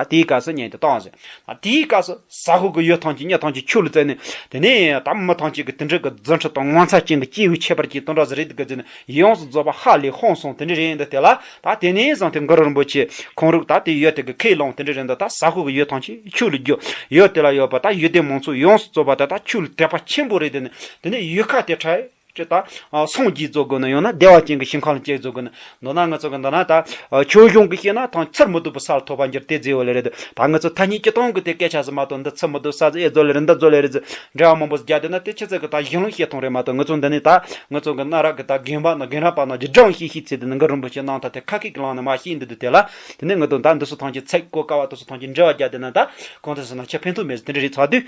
དེའི་སྐབས་སུ་ཉན་ཏེ་བཏང་ཟེར། དེའི་སྐབས་སུ་ཟ་ཧོར་གྱི་ཡོས་ཐང་ཅིག་སྙེ་ཐང་ཅིག་ཁྱུ་ལ་བཙལ་ནས། དེ་ནས་དམ་མི་ཐང་ཅིག་གི་དིན་གྲི་གི་རྫུན་ཁྲི་དང་ངོ་མཚར་ཅན་གྱི་སྐྱེས་བུའི་ཁྱད་པར་གྱིས་དུང་སྒྲ་ཟི་རིད་གི་རྫུན་ཡོངས་སུ་རྫོགས་པ་ཧ་ལས་ཧོན་སོང་དིན་གྲི་རེད་འདི་དེ་ལ་ད་དེ་ནས་བཟུང་དེ་མགུར་རིན་པོ་ཆེ་ཁོང་རུག་ད་དེ་ཡོས་དེ་གི་ཁས་བླངས་དིན་གྲི་རེད་འདི་ད་ཟ་ཧོར་གྱི་ཡོས་ཐང་ཅིག་ཁྱུ་ལ་རྒྱུ་ཡོས་དེ་ལ་ཡོས་པ་ད་ཡོས་དེ་མང་ཚོགས་ཡོངས་སུ་རྩོད་པ་དེ་ད་ཁྱུ་ལ་དད་པ་ཆེན་པོ་རེད་དེ་ནས་དེ་ནས་ཡོས་ཁ་དེ་ཁྲལ། ཅེས་དང། སངས་རྒྱས་རྫོགས་དགོས་ན་ཡང་ན་བདེ་བ་ཅན་གྱི་ཞིང་ཁམས་ལ་སྐྱེ་རྫོགས་དགོས་ན། མདོར་ན་ང་ཚོ་གི་འདི་ན་ད། ཆོས་གཞུང་གི་བཤད་ན་ཐང་ཚེར་མི་ཐུབ་པའི་སར་ཐོ་བ་འགྱུར་དེ་རྫི་བ་ལེ་རེད་ད་ང་ཚོ་ཐ་སྙད་སྤྱི་སྟོང་གི་དེ་སྐད་ཆ་ཟེར་མ་གཏོགས་འདི་ཚེར་མི་ཐུབ་ས་ཟེར་ཨེ་རྫོགས་ལེ་རེད་འདི་རྫོགས་ལེ་རེད་ཟེར་འདྲ་བ་མང་པོ་བརྒྱབ་བསྡད་ན་དེ་ཕྱི་ཚེས་ཀྱི་ད་གཞན་ལུགས་བཤད་སྟོང་རེད་མ་གཏོགས་ང་ཚོ་འདི་ནས་ད་ང་ཚོ་གི་གནའ་རབས་ཀྱི་ད་རྒན་པ་ན་རྒན་རབས་པ་ན་རྗེ་འབྲང་ཞེས་ཤིག་ཚེ་འདི་ནས་འགའ་རིན་པོ་ཆེ་གནང་ཐ་དེ་ཁ་ཁེག་གི་ལང་ནས་མ་ཤེས་འདི་དུས་དེ་ལ་དེ་ནས་ང་ཚོ་ད་འདི་སོ་ཐང་ཆེ་ཚད་གོ་དཀའ་བ་དེ་སོ་ཐང་ཆེ་འདྲ་བ་བརྒྱབ་བསྡད་ན་ད་གང་ཚེ་ཟེར་ན་ཆ་ཕན་ཐོགས་མེད་ཟེར་དེ་འདྲ་རེད་ཚ་དུས།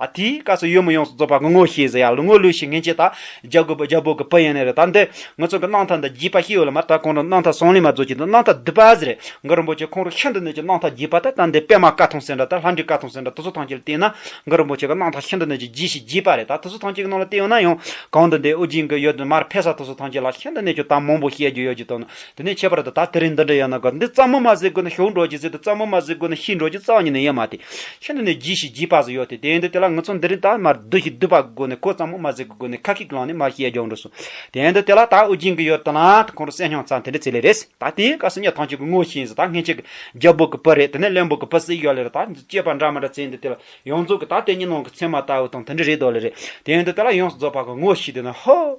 ད་དེའི་སྐབས་སུ་ཡོད་མི་ཡོངས་སུ་རྫོགས་པར་ངོ་ངོ་ཤེས་ཟེར་ཡག་ལུགས་ངོ་ལུགས་ཤིག་ངེས་ཅན་དག་རྒྱ་དགོས་པ་རྒྱ་བོད་ཀྱི་ཕ་ཡན་ལས་རེད་ད་འདི་ངོ་ཚོང་གི་སྣང་མཐའ་འདི་བརྒྱུད་པ་ཞིག་ཡོད་ལ་མ་ད་གོང་རིམ་སྣང་མཐའ་ཟོང་ལེན་མ་རྫོགས་ཀྱི་འདི་སྣང་མཐའ་བསྡུས་པ་ཟེར་རེད་འགའ་རིན་པོ་ཆེ་ཁོང་རུ་ཤིན་ཏུ་ནས་ཀྱི་སྣང་མཐའ་བརྒྱུད་པ་ད་ད་འདི་པད་མ་ཀ་ཐུང་ཟེར་འདྲ་ད་ལྷ་འདྲེ་ཀ་ཐུང་ཟེར་འདྲ་དུ་ཚོད་ཐང་ཅིག་ལ་བལྟས་ན་འགའ་རིན་པོ་ཆེ་གི་སྣང་མཐའ་ཤིན་ཏུ་ནས་ཀྱི་བརྒྱུད་ཞིག་བརྒྱུད་པ་རེད་ད་དུ་ཚོད་ཐང་ཅིག་གི་ནང་ལ་བལྟས་ཡོང་ན་ཡང་གང་འདི་འདི་ཨོ་རྒྱན་གྱི་ཡོད་དུ་མར་ཕེབས་ས་དུ་ཚོད་ཐང་ཅིག་ལ་ཤིན་ཏུ་ནས་ཀྱི་གཏམ་མང་པོ་བཤད་རྒྱུ་ཡོད་ཀྱི་དོན་དེ་ནས་ཁྱད་པར་དུ་ད་ལྟ་རིང་འདི་འདྲ་ཡང་ན་འགག་འདི་རྩ་མུ་མ་ཟིག་གོ་ན་ཞོག་འགྲོ་གྱི་ཟིག་དེ་རྩ་མུ་མ་ཟིག་གོ་ན་ཤི་འགྲོ་གྱི་རྩ་ཉིད་ནི་ཡེ་མ་སྟེ། ཤི་འདི་ནས་བགྱིས་ཤིག་བགྱིས་པ་སུ་ཡོད་དེ་དེ་ཡིན་དུ་དེ་ལ་ངུ་ཚོ་འདི་རིང་ད་མར་བསྡུ་ཞིག་བསྡུས་པ་སྒོ་ནས་ཁོ་རྩ་མུ་མ་ཟིག་གི་སྒོ་ནས་ཁ་ཁིག་ལངས་ནས་མར་ཤི་ཡ་རྒྱོག་འགྲོ་སོང། དེ་ཡིན་དུ་དེ་ལ་ད་དབུགས་འབྱིན་གི་ཡོད་དུ་ན་ད་ཁོང་རུ་སེམས་སྙིང་རྩ་འདི་འདྲ་ཚེ་ལས་རེད། ད་དེའི་སྐབས་སུ་ཉལ་ཐང་ཅིག་གི་ངོས་ཤིག་ཟིག་ད་སྔན་ཆད་ཀྱི་རྒྱལ་པོ་གི་བུ་རེད་དེ་ནས་གླེན་པོ་གི་བུ་ཟིག་ཡོད་ལེ་རེད་ད་སྐྱེས་པ་འདྲ་མི་འདྲ་ཚེ་འདི་དེ་ལ་ཡོངས་རྫོགས་ཀྱི་ད་དེ་གཉིས་ནང་གི་ཚད་མ་ལྟ་བུ་དང་དེ་འདྲ་རེད་དོ་ལེ་རེད་དེ་ཡིན་དུ་དེ་ལ་ཡོངས་སུ་རྫོགས་པ་གི་ངོས་ཤིག་དེ་ན་ཧོ།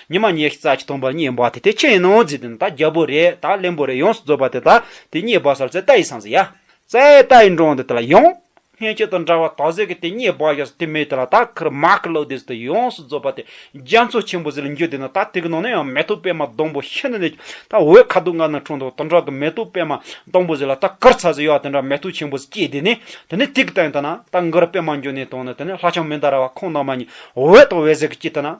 ཉི་མ་ཉེར་གསལ་གྱི་སྟོང་པར་བསྙེན་པ་དེ་དེ་ཁྱེད་ཡིན་ནོ་ཛི་དེ་ནི་ད་རྒྱལ་པོ་རེད་ད་གླེན་པོ་རེད་ཡོངས་སུ་རྫོགས་པ་དེ་ད་དེ་བསྙེན་པ་སར་ཙའི་རྟ་ཡི་སངས་ཟིན་ཡ། ཙའི་རྟ་ཡི་འགྲོ་འོང་དེ་དེ་ལ་ཡོང། སྙན་བརྒྱུད་དང་འདྲ་བར་ད་གཟོད་ཀྱི་དེ་བསྙེན་པ་ཡོད་སར་དེ་མེད་དེ་ལ་ད་ཁར་མ་ཁར་ལོག་དེ་ཟི་དེ་ཡོངས་སུ་རྫོགས་པ་དེ་རྒྱ་མཚོ་ཆེན་པོ་ཟི་ལ་འགྱུར་དེ་ནི་ད་དེ་གི་ནང་ན་ཡང་མེ་ཏོག་པད་མ་སྡོང་པོ་ཤིན་ཏུ་ནས་ཀྱི་ད་འོད་ཁ་དོག་ལྔ་ནི་འཁྲུངས་འདུག་དང་འདྲ་གི་མེ་ཏོག་པད་མ་སྡོང་པོ་ཟི་ལ་ད་ཁར་ཚ་ཟི་ཡོད་དེ་འདྲ་མེ་ཏོག་ཆེན་པོ་ཟི་སྐྱེས་དེ་ནི་དེ་ནི་དེ་གི་ད་ཡིན་དེ་ན་ད་འགར་པད་མ་འགྱུར་ནས་དང་ནི་དེ་ནི་ལྷ་ཆང་མི་འདའ་ར་བ་ཁོང་ནང་མ་ཉིད་འོད་དང་འོད་ཟེར་གྱི་སྐྱེས་དེ་ན།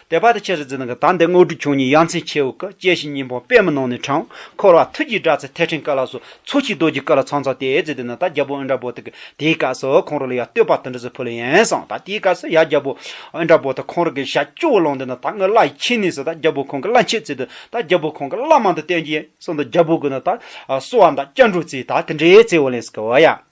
དད་པ་དང་ཆེ་རུ་འཛིན་ནང་གི་དམ་ལྡན་དངོས་གྲུབ་ཆུང་གཉིས་ཡ་མཚན་ཆེའོ་ཀ་དཔྱད་ཞིང་སྙིང་པོ་པདྨ་ནང་ནས་དྲངས། འཁོར་བ་ཐུགས་ཀྱི་སྒྲ་ཚད་ཐལ་ཕྲེང་ཀ་ལ་སོགས་ཚོགས་ཀྱི་རྡོ་རྗེ་ཀ་ལ་ཚང་ཚང་དེས་རྩེ་དེ་ནས་ད་རྒྱལ་པོ་ཨིན་དྲ་བོ་དག་དེའི་སྐབས་སུ་ཁོང་རོ་ལ་ཡར་བསྟོད་པ་དང་འབྲེལ་སོ་ཕོ་ལ་ཡན་བསང་ད་དེའི་སྐབས་སུ་ཡར་རྒྱལ་པོ་ཨིན་དྲ་བོ་དང་ཁོང་རོ་གའི་ཞལ་སྐྱོ་བོ་ལོངས་དེ་ནས་ད་སྔོན་བླ་ཡི་ཁྱིམ་ནས་སུ་ད་རྒྱལ་པོ་ཁོང་གི་བླ་མཆོད་རྩེ་དུ་ད་རྒྱལ་པོ་ཁོང་གི་བླ་མང་དུ་བསྟེན་གྱི་ཡན་བསང་ད་རྒྱལ་པོ་དགོས་ན་ད་གསོལ་བ་ད་སྐྱབས་འགྲོ་རྩེ་ད་དེ་འདྲའི་རྩེ་བོ་ལེན་སོ་ཀ་བ་ཡ།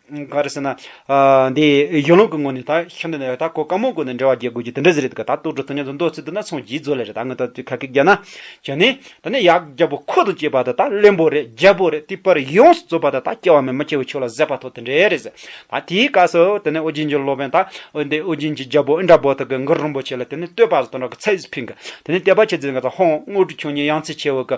ག་རེ་ཟེར་ན། འདི་གཞུང་ལུགས་ཀྱི་ངོས་ནས་ད་ཤ་འདི་ནས་ད་གོ་དཀའ་མོ་གོ་ནས་འབྲེལ་བ་རྒྱལ་དགོས་རྒྱུ་དེ་འདྲ་ཟེར་རེད་འདུག་ག་ད་ལྟོགས་གྲུ་ཐུང་ཉམས་སུ་འདོགས་ཚུལ་འདི་ན་ཚོང་བྱིས་བཟོ་ལས་རེད་ད་ངོས་ཐོག་ཁ་སྐད་རྒྱག་ན། བྱས་ནས། ད་ནི་ཡག་རྒྱ་པོ་ཁོ་ཐག་བཅད་པ་ད་ད་བློན་པོ་རེད་རྒྱལ་པོ་རེད་ཏི་པར་ཡོངས་སུ་རྩོད་པ་ད་ད་སྐྱེ་བ་མེད་མ་སྐྱེ་བའི་ཆོས་ལ་གཟད་པ་ཐོག་དེ་འདྲས་རེད་ཟེར། ད་དེའི་སྐབས་སུ་དེ་ནས་ཨོ་རྒྱན་གྱི་སློབ་དཔོན་ད་འདི་ཨོ་རྒྱན་གྱི་རྒྱལ་པོ་ཨིན་དྲ་བོ་དག་གི་འགུར་རིན་པོ་ཆེ་ལ་དེ་ནས་བསྟོད་པ་སོགས་དང་སྦྲགས་ཀྱི་ཚད་གཞི་ཕིང་གི་དེ་ནས་དད་པ་བྱེད་ཚུལ་འགའ་ད་ཧོང་དངོས་གྲུབ་ཆོས་ཉིད་ཡང་རྩེ་ཆེ་བོ་གི་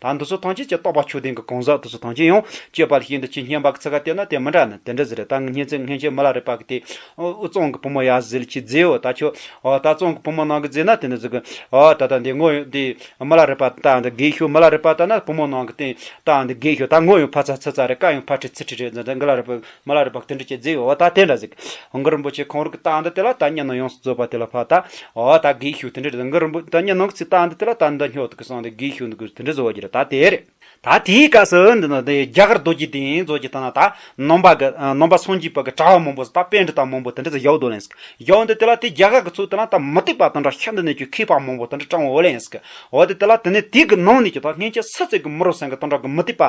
ད་འདི་ཚོ་ཐང་ཆེན་གྱི་རྟོག་པ་ཆོས་ལྡན་གྱི་གང་ཟག་འདི་ཚོ་ཐང་ཆེན་ཡང་སྤྱོད་པ་ལ་ཤིན་ཏུ་ཆེས་སྙན་པ་གི་ཚིག་ཁ་བལྟས་ན་དེ་མི་འདྲ་ནི་དེ་འདྲ་ཟེར་རེད་ད་ངེད་ཚོས་ངྷན་ཆོས་མི་ལ་རེ་བ་གི་དེ་འུ་གཙང་གི་བུ་མོ་ཡ་ཟིལ་གྱིས་བརྫིས་འོ་ད་ཁྱོད་འོ་ད་གཙང་གི་བུ་མོ་ནང་གི་བརྫིས་ན་དེ་འདྲ་ཟེར་གི་འོ་ད་ད་འདི་ངོ་ཡོད་འདི་མི་ལ་རེ་བ་ད་འདི་དགེ་ཤོས་མི་ལ་རེ་བ་ད་ན་བུ་མོ་ནང་གི་དེ་ད་འདི་དགེ་ཤོས་ད་ངོ་ཡོད་ཕ་ཚ་ཚི་ཚ་རེད་ཀ་ཡང་ཕ་ཁྲི་ཚི་ཁྲི་རེད་འདི་འདི་འགི་ལ་རེ་བ། མ་ལ་རི་བག་ཏུ་འདྲི་བྱེད་རྫིག་འོ་ད་དེ་འདྲ་གཟིགས། འགུ་རིན་པོ་ཆེ་ཁོང་རུ་གི་རྟགས་འདི་དེ་ལ་ད་སྙན་ནོ་ཡོངས་སུ་རྫོད་པ་དེ་ལ་ཕ་ད་འོ་ད་གིས་ཤུགས་དེ་འདྲ་རེད་འགུ་རིན་པོ་ད་སྙན་ནོ་གི་ཚིག་རྟགས་འདི་དེ་ལ་ད་འདི་སྙོག་ཐུག་གི་གསང་དེ་གིས་ཤུགས་འདི་གུས་དེ་འདྲ་རྫོད་རྒྱུ་རེད་ད་དེ་རེད། ད་དེའི་སྐབས་སུ་འདི་ནི་དེ་རྒྱ་གར་རྡོ་རྗེ་དེ་ཡིན་རྫོད་རྒྱུ་ད་ན་ད་ནོམ་པ་གི་ནོམ་པ་སངས་རྒྱས་པ་གི་གྲྭ་བ་མང་པོ་ཟིག་ད་དཔེ་འདི་དང་མང་པོ་དེ་འདྲ་ཟིག་ཡོག་དོ་ལན་ཟིག་ཡོག་འདི་དེ་ལ་དེ་རྒྱ་གར་གི་ཚུལ་དེ་ན་ད་མི་སྡིག་པ་དང་འདྲ་ཤ་འདི་ནས་ཀྱི་ཁེས་པ་མང་པོ་དེ་འདྲ་སྤྲང་བོ་ལན་ཟིག་འོ་དེ་དེ་ལ་དེ་ནས་དེ་གི་ནང་ནས་ཀྱི་ད་སྔན་ཆད་སུ་ཚིག་གི་མུ་རུ་སེང་གི་དང་འདྲ་གི་མི་སྡིག་པ་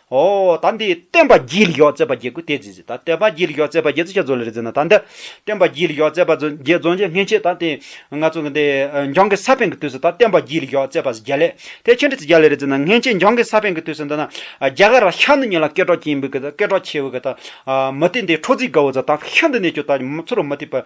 ཨོ་ད་འདི་བསྟན་པ་རྒྱས་ལི་ཡོག་ཙེ་པ་རྒྱས་ཀུ་ཏའི་རྫི་ཟི་ད་བསྟན་པ་རྒྱས་ལི་ཡོག་ཙེ་པ་རྒྱས་ཙི་ཆ་རྫོ་ལི་རི་ཛི་ན་ད་འདི་བསྟན་པ་རྒྱས་ལི་ཡོག་ཙེ་པ་རྫོ་རྒྱས་རྫོ་རྒྱས་སྔན་ཆད་ད་དེ་ང་ཚོ་གི་འདི་འཇང་གི་ས་པན་གི་དུས་སུ་ད་བསྟན་པ་རྒྱས་ལི་ཡོག་ཙེ་པ་ཟི་རྒྱ་ལས་དེ་ཆེན་ཏི་ཙི་རྒྱ་ལི་རི་ཛི་ན་སྔན་ཆད་འཇང་གི་ས་པན་གི་དུས་སུ་འདི་ན་རྒྱ་གར་ར་ཤ་ནུ་ཉི་ལ་སྐད་གྲོགས་ཀྱིན་འབུད་གི་ད་སྐད་གྲོགས་ཆེ་བུ་གི་ད་མི་ཏི་འདི་ཁྲོ་ཙི་དགའ་བོ་ཛ་ད་ཤ་འདི་ནས་ཀྱོ་ད་མི་ཚུ་རུ་མི་ཏི་པ